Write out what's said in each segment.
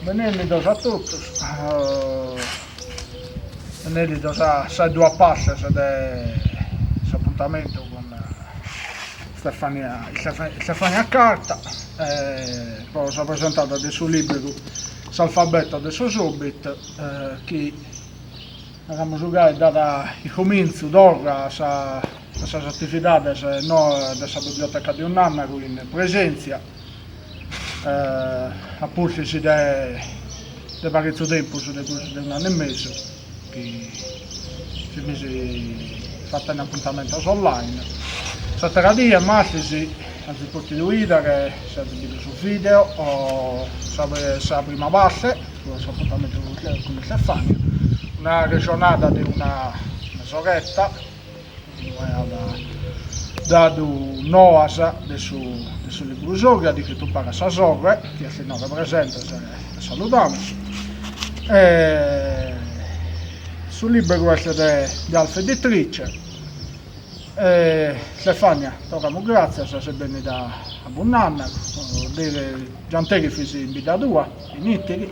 Benènnidos a totus, benènnidos a sas duas partes de s'apuntamentu cun Stefania Stefania Carta pro sa presentada de su lìberu S'alfabeto de sos Hobbit chi, naramus gai, dat cumintzu, torra, a sas atividades noas de sa Biblioteca de Bunnànnaru in presèntzia a pustis de de paretzu tempus, de prus de un'annu e mesu chi fimis fatende apuntamentos online, s'atera dì a martis azis pòtidu bìdere, si azis bidu su video o sa sa prima parte po s'apuntamentu cun Stefania, una arrexonada de una mesoreta Lu aiat dadu noas de su de su lìberu sou, chi at iscritu paris a sa sorre, chi est innoghe presente e e saludamus. E su lìberu est de de Alfa Editrice. E Stefania, torramus gràtzias, ses bennida a Bunnànnaru, deris gianteris fis in bidda tua, in Ìtiri.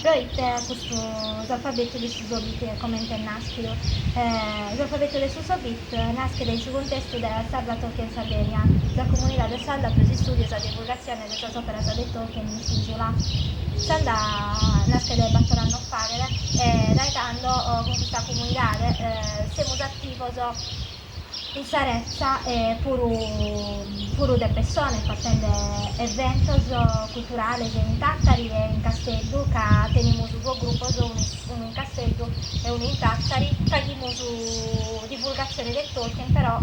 Pro ite custu s'alfabetu de sos Hobbit comente est nàschidu? S'alfabetu de sos Hobbit naschet in su cuntestu de S'Arda Tolkien Sardinia, sa comunidade sarda pro s'istùdiu e sa divulgatzione de sas òperas de Tolkien in s'ìsula. S'Arda naschet bator annos faghet e dae tando cun custa comunidade semus ativos in sa retza e puru puru de pessone fatende eventos culturales in Tàtari e in Casteddu ca tenimus duos grupos unu unu in Casteddu e unu in Tàtari faghimus divulgatzione de Tolkien però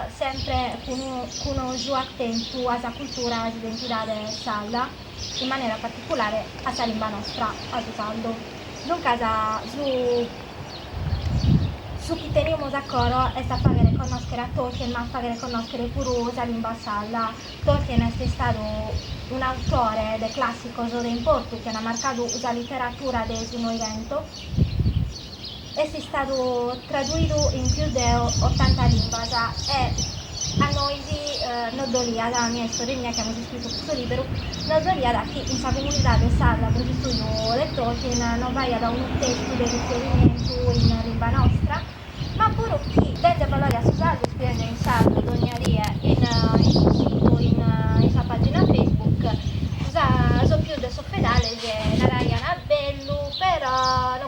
sempre cun unu cun oju atentu a sa cultura a s'identidade sarda. in manera particulare a sa limba nostra, a su sardu. Duncas su su chi tenimus a coro est a fàghere connòschere a Tolkien ma a fàghere connòschere puru sa limba sarda. Tolkien est istadu un'autore de clàssicos de importu chi ant marcadu sa literadura de su Noighentu, Est istadu traduidu in pius de otanta limbas e a nois nos doliat, a mie e sorre mia chi amus iscritu custu lìberu, nos doliat chi in sa comunidade sarda pro s'istùdiu de Tolkien non b'aiat unu testu de riferimentu in limba nostra, ma puru chi dende valore a su sardu scriende in sardu dònnia die in su situ, in sa pàgina Facebook, sos pius de sos fedales naraiant bellu però no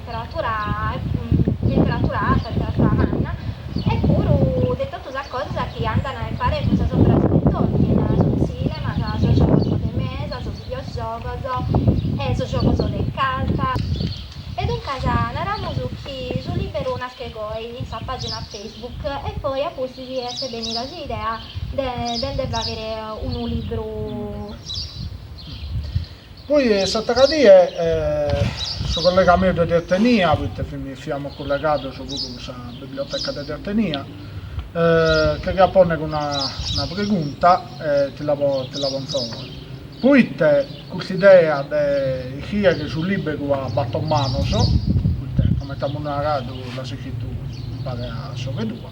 temperatura temperatura arta, temperatura manna e puru de totu sas cosas chi andan a impare cun sas operas de Tolkien, su tzìnema, sos giogos de mesa, sos videogiogos e sos giogos de cartas. E duncas naramus chi su lìberu naschet goi in sa pàgina Facebook e poi a pustis est bènnida s'idea de nde fàghere unu libru. Poi s'atera die su collega meu de Tertenia, poita fiamus collegados puru cun sa biblioteca de Tertenia, ti cheriat ponnere una pregunta e ti la ponzo. Poita cust'idea de iscriere su liberu a bator manos, poita coment'amus naradu l'as iscritu impare a sorre tua,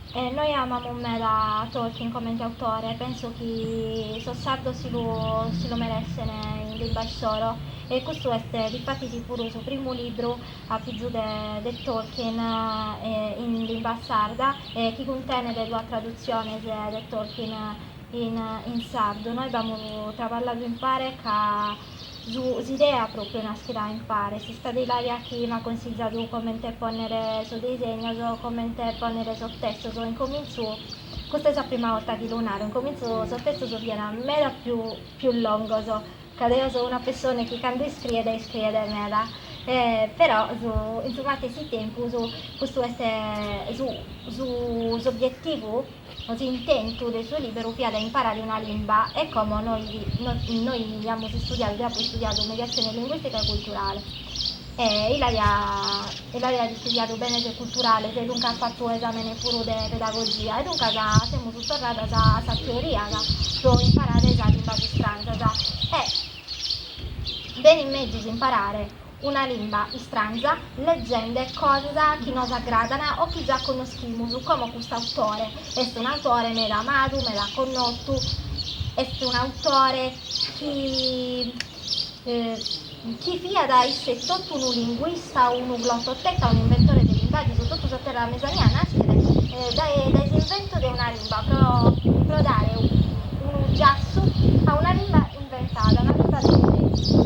Nois amamus meda Tolkien comente autore, penso chi sos sardos si lu si lu merèssene in limba issoro e custu est difatis puru su primu libru a pitzu de de Tolkien in limba sarda e chi cuntenet duas tradutziones de Tolkien in in sardu. Nois b'amus traballadu impare ca Su s'idea pròpiu naschet a impare, est istada Ilaria chi m'at consigiadu comente pònnere sos disegnos, comente pònnere sos testos, in comintzu, custa est sa prima 'orta chi lu naro, in comintzu sos testos fiant meda pius pius longos, ca deo so una pessone chi cando iscriet, iscriet meda, e però su in su matessi tempus custu est su su s'obietivu No s'intentu de su lìberu fiat a imparare una limba e como nois aiamus istudiadu deo apo istudiadu mediatzione linguìstica e culturale e Ilaria at istudiadu benes culturales e duncas fatu esàmene puru de pedagogia e duncas semus torradas a sas teorias pro imparare sas limbas istranzas e benit mezus imparare una limba istranza, leghende cosas chi nos agradan o chi già connoschimus, como cust'autore, est un'autore meda amadu, meda connotu, est un'autore chi chi fiat isse etotu unu linguista, unu glototeta, un'inventore de limbas e totu sa terra Mesania naschet dae dae s'inventu de una limba pro pro dare unu giassu a una limba Imbentada una cosa de sèculu.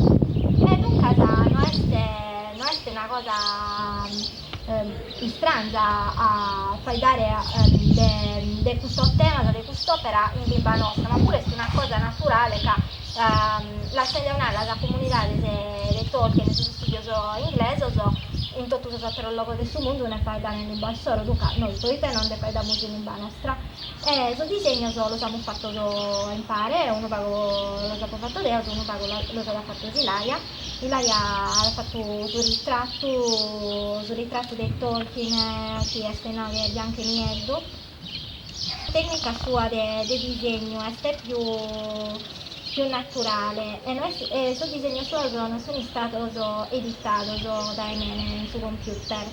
E duncas no est no est una cosa istrangia a faeddare de de custos temas, de cust'òpera in limba nostra, ma puru est una cosa naturale ca, lass'a nai, sa comunidade de de Tolkien e sos istùdios inglesos in totu sos àteros logos de su mundu nde faeddan in limba issoro, duncas nois, proite no nde faeddamus in limba nostra? E sos disegnos los amus fattos a impare, unu pagu los apo fattos deo e unu pagu los at fattos Ilaria, Ilaria at fattu su ritrattu, su ritrattu de Tolkien chi est nau de biancu e nieddu, tecnica sua de disegnu est più più naturale e no est e sos disegnos suos non sun istados editados dae mene in su computer.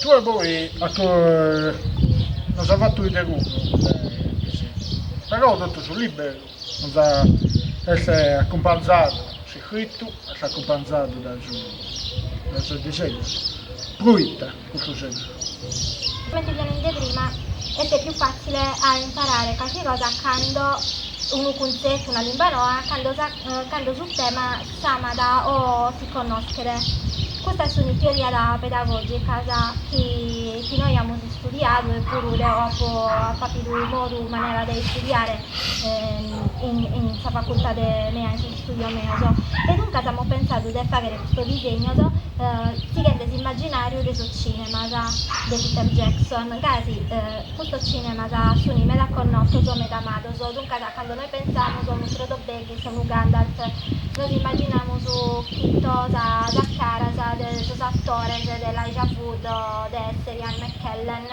Tue poi a to nos as fatu bìdere cuddu de piseddu, però totu su lìberu nos est acumpanzadu, s'iscritu est acumpanzadu dae sos disegnos, proita Comente fia nende prima, est pius fàtzile a imparare carchi cosa cando, unu cuntzetu, una limba noa, cando sa cando su tema s'amat o si connoschet. Custa est una teoria pedagògica, sa chi chi nois amus istudiadu e puru deo apo apo appidu modu manera de istudiare in in sa facultade mea in istùdios meos e duncas amus pensadu de fàghere custos disignos sighende s'immagginàriu de sos cinemas de Peter Jackson, ca custos cinemas sunt meda connotos, meda amados, duncas cando nois pensamus a unu Frodo Baggins, a unu Gandalf, nos immaginamus chito sas caras de sos atores de Elijah Wood o de Sir Ian McKellen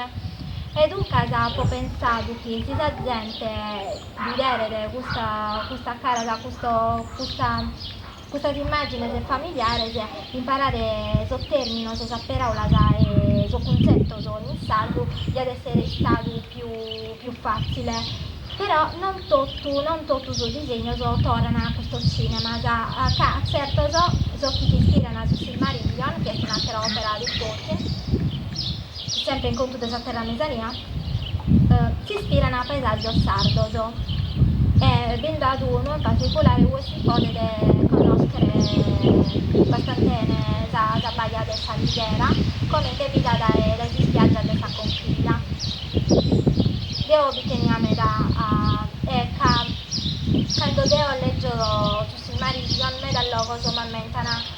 e duncas apo pensadu chi si sa zente bideret custas caras, custas immàgines familiares, imparare sos tèrminos, sas paràulas e sos cuntzetos in sardu diat èssere istadu pius fàtzile. Però non totu non totu sos disegnos torran a custos tzìnemas, ca tzertos, sos chi s'ispirant a su Silmarillion, chi est un'àtera òpera de Tolkien, Semper in contu de sa terra mesania s'ispirana a paesaggios sardos e bi nd'at unu in particulare ue si podet connoschere bastante bene sa baja de S'Alighera comente bida dae s'ispiaggia de sa Conchiglia. Deo bi tenia meda a e ca cando deo leggio su Silmarillion meda logos m'ammentana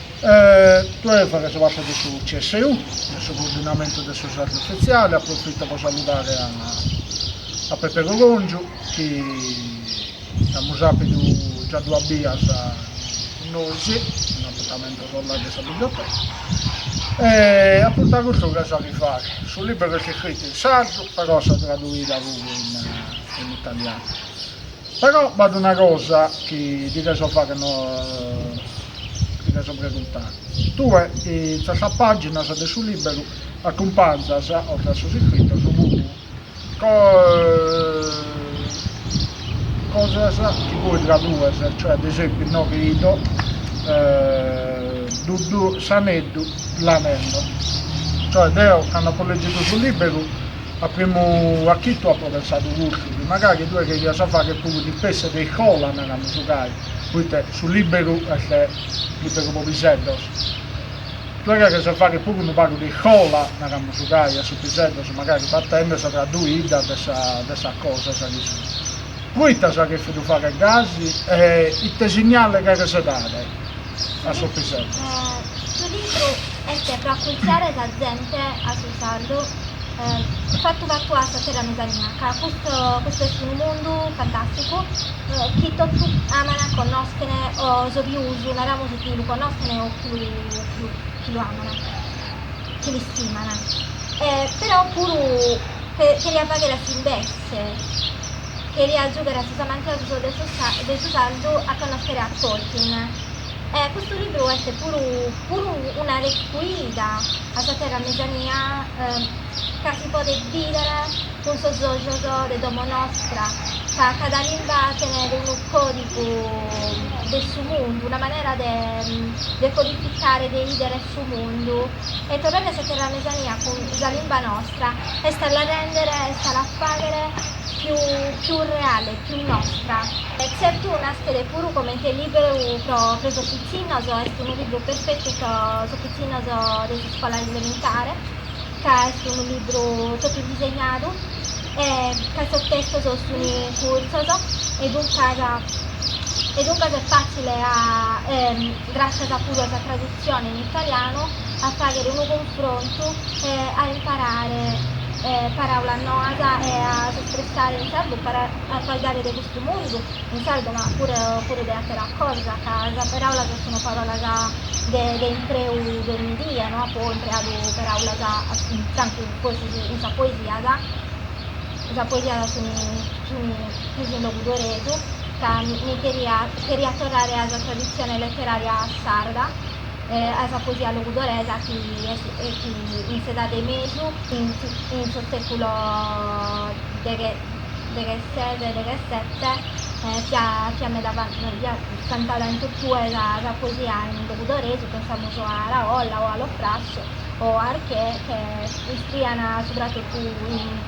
Tue faghes parte de su CSU de su coordinamentu de su sardu ufitziale, approfito pro saludare a Pepe Coròngiu chi amus àpidu già duas bias cun nois in apuntamentos online de sa biblioteca e a prus de custu che so chi faghe, su libberu est iscritu in sardu però at sa traduida puru in italianu. Però b'at una cosa chi ti depo fagher no ti depo preguntare. Tue in sas pàginas de su lìberu acumpanzas, oltre a sos iscritos, puru cosas chi tue tradues, cioè ad esempiu inoche ido, Dudu, s'aneddu, l'anello. Cioè deo cando apo lègidu su lìberu A primu achitu apo pensadu custu, chi magari tue cherias fagher puru ispessie de iscola, naramus gai, poite su liberu est liberu po piseddos, tue cheres a fagher puru unu pagu de iscola, naramus gai, a sos piseddos, magari fatende sa traduida de sa de sas cosas chi sun. Poite as chèrfidu fagher gasi e ite signale cheres dare? a su piseddu. Su libru est pro accultziare sa zente a su sardu fatu fatu a sa terra mesania ca custu custu est unu mundu fantasticu chi totu aman, connoschene o sos pius naramus chi lu connoschene o chi lu chi lu aman chi l'istimana però puru cheriat faghere a s'invessu Fortze cheriat giugher a sos amantiosos de su sardu a connòschere a Tolkien. E custu libru est puru puru una recuida a sa terra mesania ca si podet bìdere cun sos ojos de domo nostra, ca cada limba tenet unu còdigu de su mundu, una manera de codificare, de 'idere su mundu. e torrare a sa terra mesania cun sa limba nostra est a la rèndere, est a la fàghere pius reale, pius nostra. Tzertu naschet puru comente lìberu pro sos pitzinnos est unu libru perfetu pro sos pitzinnos de s'iscola elementare, ca est unu libru totu disegnadu e ca sos testos sun curtzos e duncas e duncas est fàtzile a Gràscias puru a sa tradutzione in italianu a fàghere unu cunfrontu e a imparare paràulas noas e a s'espressare in sardu para faeddare de custu mundu, in sardu ma puru de àteras cosas, ca sas paràulas sunt paràulas de impreu de onni die, no apo impreadu paràulas tantu in sa poesia, sa poesia Fut in logudoresu ca mi cheria, cheria torrare a sa traditzione leterària sarda, a sa poesia logudoresa chi est e chi in s'edade 'e mesu, in in su sèculo deghe deghesese e deghesete, fiat fiat meda va fiat cantada in totue sa sa poesia in logudoresu, pensamus a Araolla o a Lo Frasso o a Arquer, che iscrian subratotu in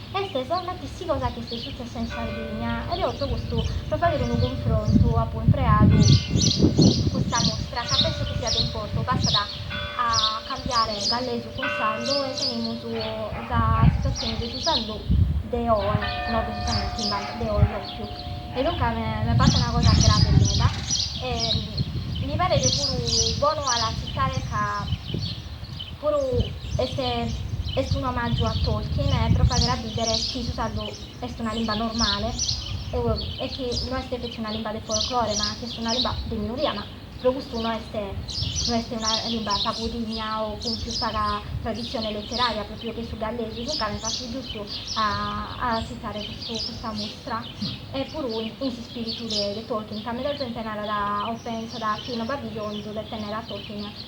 Est sa matessi cosa chi est sutzessa in Sardigna e deo ozo custu pro fagher unu cunfrontu apo impreadu custa mustra ca penso chi siat de importu bastat a cambiare gallesu cun sardu e tenimus sa situatzione de su sardu de oe no de sos annos chimbanta de oe propriu e duncas me paret una cosa grave meda e mi paret puru bonu a la tzitare ca Puru est est un'omàgiu a Tolkien e pro fagher a bìdere chi su sardu est una limba normale e chi no est feti una limba de folklore ma chi est una limba de minoria ma pro custu no est no est una limba pagu digna o cun pius paga traditzione leterària pròpiu che su gallesu duncas m'est partu giustu a a tzitare custu custa mustra e puru in in s'ispìritu de de Tolkien ca meda zente narat o pensat chi no b'at bisonzu de tènnere a Tolkien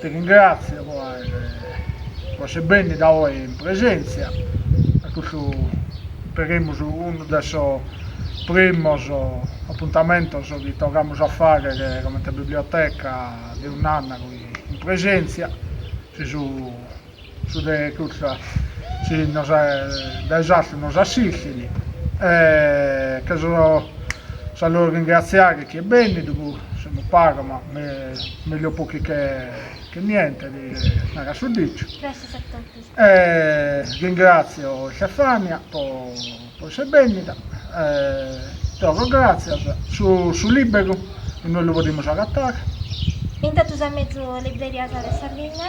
Te ringràtzio pro essere bènnida oe in presèntzia a custu, peremus, unu de sos primos apuntamentos chi torramus a fàghere comente Biblioteca de Bunnànnaru in presèntzia. Si su Su de cussa si nos dae s'artu nos assistit e che sa loro ringratziare chi est bennidu po semus pagu ma meglio pochi che niente narat su diciu e ringrazio Stefania po essere bennida e torro gratzias, su liberu inue lu podimus agatare? In totus sas mezu librerias de Sardigna.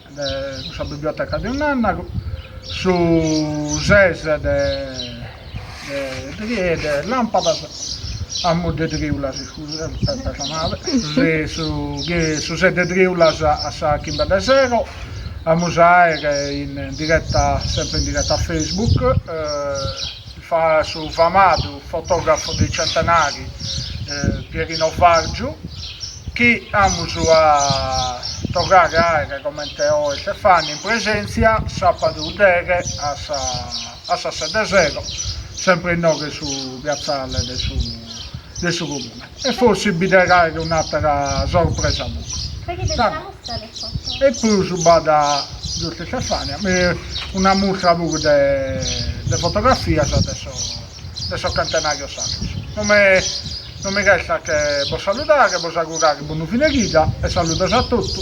cun sa biblioteca de Bunnànnaru, su ses de triu de lampadas a mu de triulas, su ses de triulas a sas chimbe de sero, amus a aer in diretta, sempre in diretta a Facebook su famadu fotògrafu dei centenari Pierino Vargiu chi amus a torrare a àere comente oe Stefania in presèntzia sàbadu deghe a sas sete de sero sempre inoghe su piatzale de su Comune. e forsis bi det àere un'atera sorpresa puru. E prus b'at giustu Stefania, una mustra puru de de fotografias de sos de sos centenarios sardos. No mi no mi restat che bos saludare, bos augurare bonu fine chida e saludos a totu.